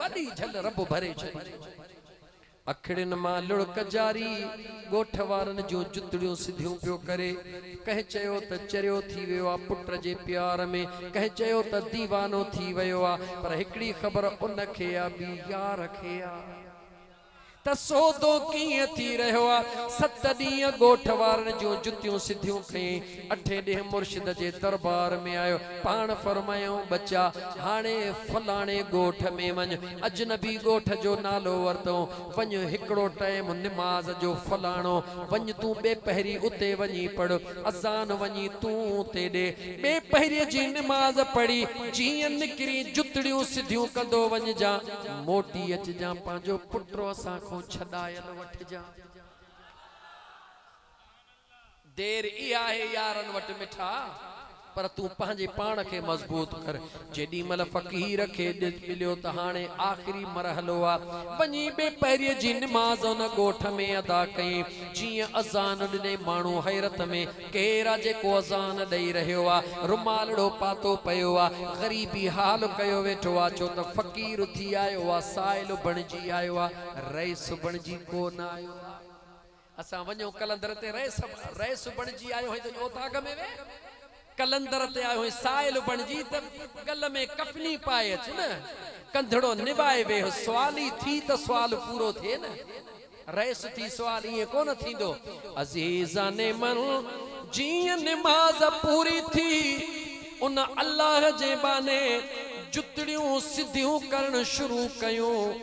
وڏي جھل رب ڀري ڇڏي. اکڙين مان لڙڪ جاري، ڳوٺ وارن جون جتڙيون سڌيون پيو ڪري. ڪنھن چيو ته چريو ٿي ويو آ پٽ جي پيار ۾، ڪنھن چيو ته ديوانو ٿي ويو آ، پر ھڪڙي خبر ان کي آ، ٻي يار کي آ. ته سودو ڪيئن ٿي رهيو آ. ست ڏينهن ڳوٺ وارن جون جتيون سڌيون کئي، اٺين ڏينهن مرشد جي دربار ۾ آيو. پاڻ فرمايائون ٻچا! هاڻي فلاڻي ڳوٺ ۾ وڃ. اجنبي ڳوٺ جو نالو ورتئون. وڃ هڪڙو ٽائيم نماز جو فلاڻو وڃ تون ٻي پهري اتي وڃي پڙهه. اذان وڃي تون تيڏي ٻي پهري جي نماز پڙهي جيئن نڪري جتڙيون سڌيون ڪندو وڃجان موٽي اچجان پنهنجو پٽو اسان کون ڇڏايل وٺجان. دير ئي آهي يارن وٽ مٺا. پر تون پنهنجي پاڻ کي مضبوط ڪر. جيڏي مهل فقير کي ڏس مليو ته هاڻي آخري مرحلو آ. وڃي ٻئي پهريء جي نماز ان ڳوٺ ۾ ادا ڪئي. جيئن اذان ڏني ماڻهو حيرت ۾، ڪير آ جيڪو اذان ڏئي رهيو آ؟ رومالڙو پاتو پيو آ. غريبي حال ڪيو ويٺو آ. ڇو ته فقير اٿي آيو آ، سائل بڻجي آيو آ، رئيس بڻجي ڪو نه آيو آ. اسان وڃون قلندر تي رئيس رئيس بڻجي آيو هئين ته اڄ اوطاق ۾ ويهه قلندر تي آيو هئين سائل بڻجي ته ڳل ۾ ڪفني پائي اچ نه ڪنڌڙو نبائي ويهه سوالي ٿي ته سوال پورو ٿئي نه رئيس ٿي سوال ائين ڪونه ٿيندو عزيزان من جيئن نماز پوري ٿي ان الله جي ٻانهي جتڙيون سڌيون ڪرڻ شروع ڪيون.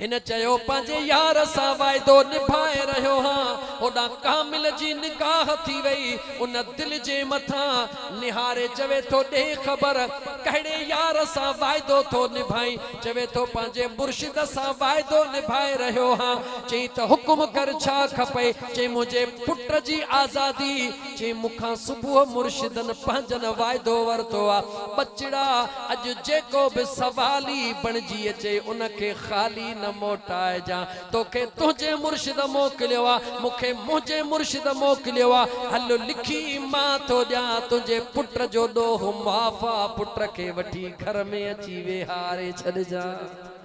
هن چيو پنهنجي يار سان واعدو نڀائي رهيو هان هوڏانهن ڪامل جي نگاهه ٿي وئي ان دل جي مٿان نهاري چوي ٿو ڏي خبر ڪهڙي يار سان واعدو ٿو نڀائين چوي ٿو پنهنجي مرشد سان واعدو نڀائي رهيو هان چئين ته حڪم ڪر ڇا کپئي چئين منهنجي پٽ جي آزادي چي مون کان صبح مرشدن پنهنجن واعدو ورتو آ، ٻچڙا اڄ جيڪو به سوالي بڻجي اچي ان کي خالي نه موٽائجان، توکي تنهنجي مرشد موڪليو آ، مون کي منهنجي مرشد موڪليو آ، هل لکي مان ٿو ڏيان، تنهنجي پٽ جو ڏوهه معاف آ، پٽ کي وٺي گهر ۾ اچي ويهاري ڇڏجان.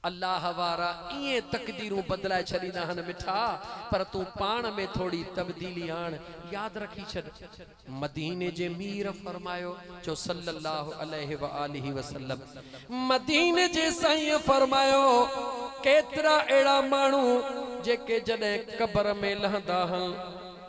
الله وارا ائين تقديرون بدلائي ڇڏيندا آهن مٺا پر تون پاڻ ۾ ٿوري تبديلي آڻ ياد رکي ڇڏ مديني جي مير فرمايو چو صلّي الله عليه واٰله وسلّم مديني جي سائينء فرمايو ڪيترا اهڙا ماڻهو جيڪي جڏهن قبر ۾ لهندا هن.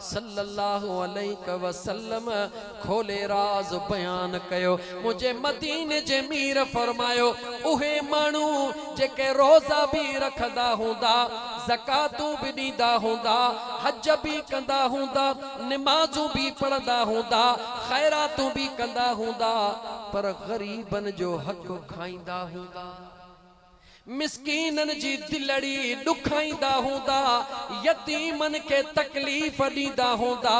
صلّي اللّٰه عليه وسلّم کولي راز بيان ڪيو، منهنجي مديني جي مير فرمايو، اهي ماڻهو جيڪي روزا به رکندا هوندا، زڪواتون به ڏيندا هوندا، حج به ڪندا هوندا، نمازون به پڙهندا هوندا، خيراتون به ڪندا هوندا، پر غريبن جو حق کائيندا هوندا. مسڪينن جي دلڙي ڏکائيندا هوندا، يتيمن کي تڪليف ڏيندا هوندا،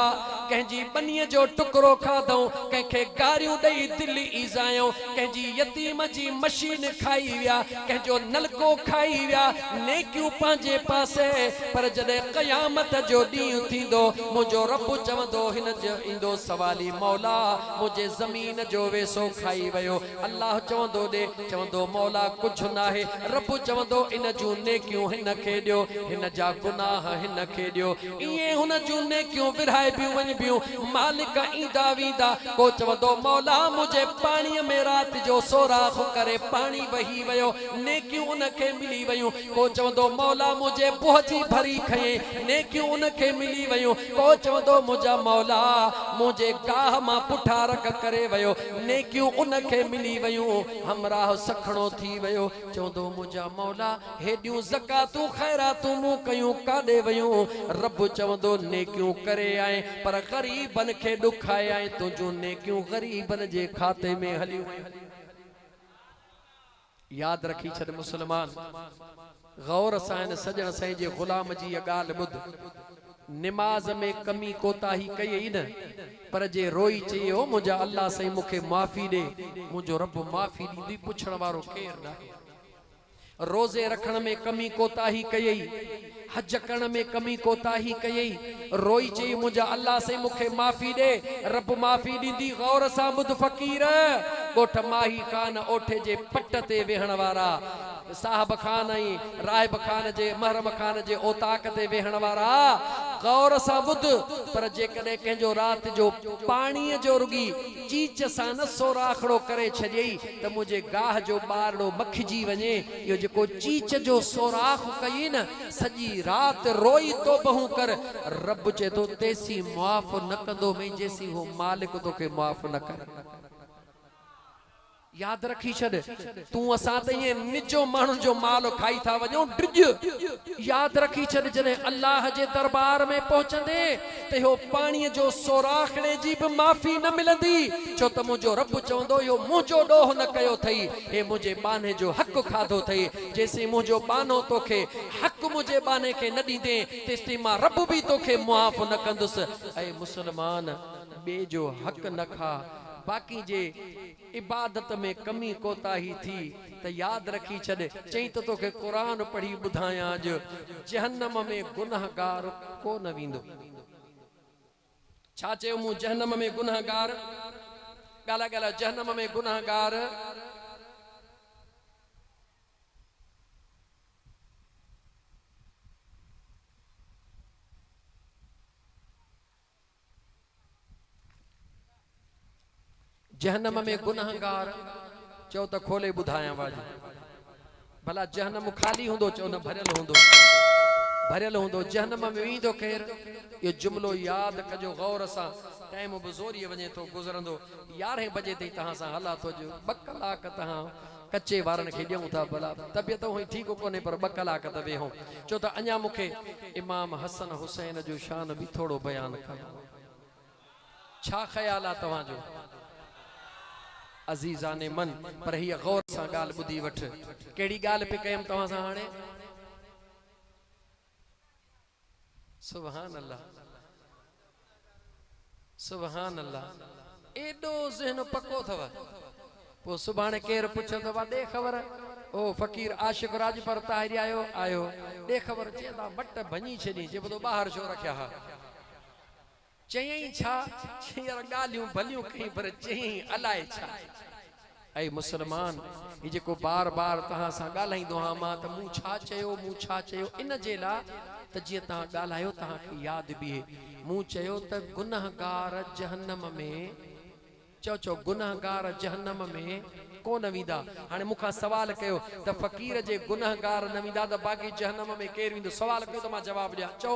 ڪنهن جي ٻنيء جو ٽڪرو کاڌئون، ڪنهن کي گاريون ڏئي دل ايذايئون، ڪنهن جي يتيم جي مشين کائي ويا، ڪنهن جو نلڪو کائي ويا، نيڪيون پنهنجي پاسي، پر جڏهن قيامت جو ڏينهن ٿيندو، منهنجو رب چوندو، هن جو ايندو سوالي، مولا! منهنجي زمين جو ويسو کائي ويو، الله چوندو ڏي، چوندو مولا ڪجهه ناهي، رب چوندو ان جون نيڪيون هن کي ڏيو، هن جا گناهه هن کي ڏيو، ائين هن جون نيڪيون ورهائبيون وڃبيون، مالڪ ايندا ويندا، پوء چوندو مولا منهنجي پاڻي ۾ رات جو سوراخ ڪري پاڻي وهي ويو، نيڪيون ان کي ملي ويون، پوء چوندو مولا منهنجي بوهه جي ڀري کنئين، نيڪيون ان کي ملي ويون، پوء چوندو منهنجا مولا منهنجي گاهه مان پٺا رڪ ڪري ويو، نيڪيون ان کي ملي ويون، همراهه سکڻو ٿي ويو، چوندو منهنجا مولا! هيڏيون زڪواتون خيراتون مون ڪيون ڪاڏي ويون؟ رب چوندو نيڪيون ڪري آئين، پر غريبن کي ڏکائي آئين، تنهنجون نيڪيون غريبن جي کاتي ۾ هليون ويون. ياد رکي ڇڏ مسلمان! غور سان هن سڄڻ سائين جي غلام جي هيء ڳالهه ٻڌ. نماز ۾ ڪمي ڪوتاهي ڪئي ئي نه، پر جي روئي چئي او منهنجا الله سائين مون کي معافي ڏي، منهنجو رب معافي ڏيندو ئي پڇڻ وارو ڪير ناهي. روزي رکڻ ۾ ڪمي ڪوتاهي ڪيئي، حج ڪرڻ ۾ ڪمي ڪوتاهي ڪيئي روئي چيئي منهنجا الله سائين مون کي معافي ڏي رب معافي ڏيندي غور سان ٻڌ فقير ڳوٺ ماهي خان اوٺي جي پٽ تي ويهڻ وارا صاحب خان ۽ راهب خان جي محرم خان جي اوطاق تي ويهڻ وارا غور سان ٻڌ پر جيڪڏهن ڪنهن جو رات جو پاڻي جو رڳي چيچ سان نه سوراخڙو ڪري ڇڏيئي ته منهنجي گاهه جو ٻارڙو مکجي وڃي اهو جيڪو چيچ جو سوراخ ڪيئي نه، سڄي رات روئي توبهون ڪر، رب چئي ٿو تيسين معاف نه ڪندو مئي جيسين هو مالڪ توکي معاف نه ڪري. ياد رکي ڇڏ تون اسان ته ائين نجو ماڻهن جو مال کائي ٿا وڃون، ڊڄ. ياد رکي ڇڏ جڏهن الله جي دربار ۾ پهچندين ته اهو پاڻيء جو سوراخ ڙي جي به معافي نه ملندي، ڇو ته منهنجو رب چوندو اهو منهنجو ڏوهه نه ڪيو اٿئي، هي منهنجي ٻانهي جو حق کاڌو اٿئي، جيسين منهنجو ٻانهو توکي حق منهنجي ٻانهي کي نه ڏيندين، تيستائين مان رب به توکي معاف نه ڪندس. اي مسلمان! ٻئي جو حق نه کاء، باقي جي. عبادت ۾ ڪمي ڪوتاهي ٿي ته ياد رکي ڇڏ چئين ته توکي قرآن پڙهي ٻڌايان اڄ جهنم ۾ گنهگار ڪو نه ويندو. ڇا چيو مون جهنم ۾ گنهگار ڳالهاء ڳالهاء جهنم ۾ گنهگار. جهنم ۾ گنهگار، چئو ته کولي ٻڌايان واجب، ڀلا جهنم خالي هوندو چئو نه ڀريل هوندو، ڀريل هوندو، جهنم ۾ ويندو ڪير؟ اهو جملو ياد ڪجو غور سان، ٽائيم به زوريء وڃي ٿو، گذرندو، يارهين بجي تائين توهان سان هلان ٿو اڄ ٻه ڪلاڪ توهان ڪچي وارن کي ڏيون ٿا ڀلا. طبيعت هونئن ٺيڪ ڪونهي پر ٻه ڪلاڪ ته ويهون. ڇو ته اڃا مون کي امام حسن حسين جو شان به ٿورو بيان ڪرڻو آهي. ڇا خيال آهي توهان جو؟ عزيزان من! پر هيء غور سان ڳالهه ٻڌي وٺ. ڪهڙي ڳالهه پئي ڪيم توهان سان هاڻي؟ سبحان الله سبحان الله ايڏو ذهن پڪو اٿو پو سڀاڻي ڪير پڇيو ته وا ڏي خبر او فقير عاشق راڄپر طاهري آيو آيو ڏي خبر چئي ٿا مٽ ڀڃي ڇڏين چئبو تو ٻاهر ڇو رکيا ها. چيائين ڇا؟ ڇير ڳالهيون ڀليون ڪيائين پر چيائين الاء ڇا؟ اي مسلمان! هي جيڪو بار بار توهان سان ڳالهائيندو آهيان مان ته مون ڇا چيو، مون ڇا چيو ان جي لاء ته جيئن توهان ڳالهايو توهان کي ياد بيهي. مون چيو ته گنهگار جهنم ۾، چئو چئو گنهگار جهنم ۾، ڪو نه ويندا. هاڻي مون کان سوال ڪيو ته فقير جي گنهگار نه ويندا ته باقي جهنم ۾ ڪير ويندو؟ سوال ڪيو ته مان جواب ڏيان. چئو.